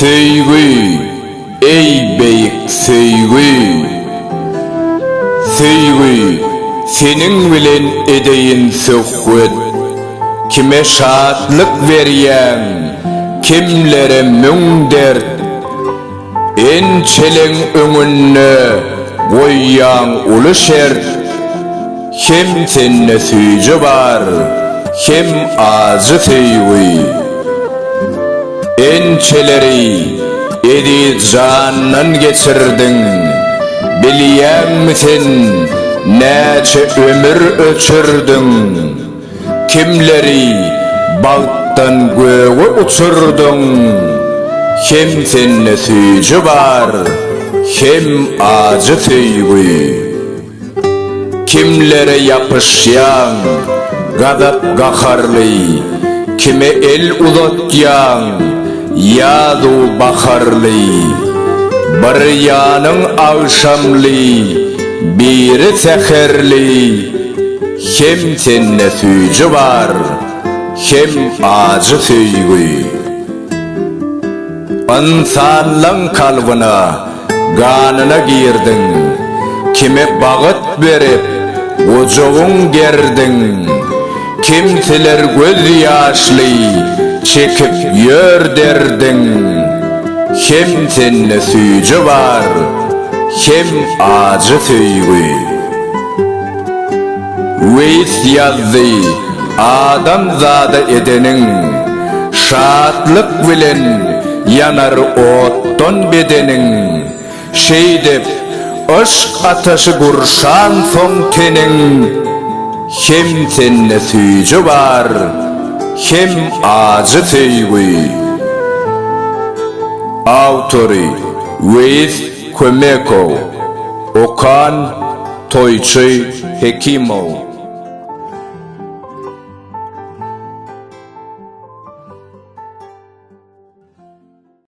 Söýgi, eý beýik söýgi! Söýgi, seniň bilen edeýin söhbet. Kime şatlyk berýäň, kimlere müň dert. Ençeleň öňünde goýýaň uly şert, Hem sende süýji bar, hem ajy söýgi. Ençeleri eziz jandan geçirdiň, Bilýäňmi sen, näçe ömür öçürdiň? Kimleri bagtdan göge uçurdyň, Hem sende süýji bar, hem ajy söýgi. Kimlere ýapyşýaň, gazap-gaharly, Kime el uzatýaň, ýazu baharly. Bir ýanyň agşamly, biri säherli. Hem sende süýji bar, hem ajy söýgi. Ynsanlaň kalbyna, ganyna girdiň. Kime bagyt berip, gujagyň gerdiň. Kimseler göz ýaşly çekip ýör derdiň. Hem sende süýji bar, hem ajy söýgi. Weis ýazdy, Adam zada edeniň, şatlyk bilen ýanar otdan bedeniň, Şeýdip, yşk ataşy gurşansoň teniň, Hem sende süýji bar, hem ajy söýgi. Awtory, Weis Kömekow. Okan. Toýçy Hekimow.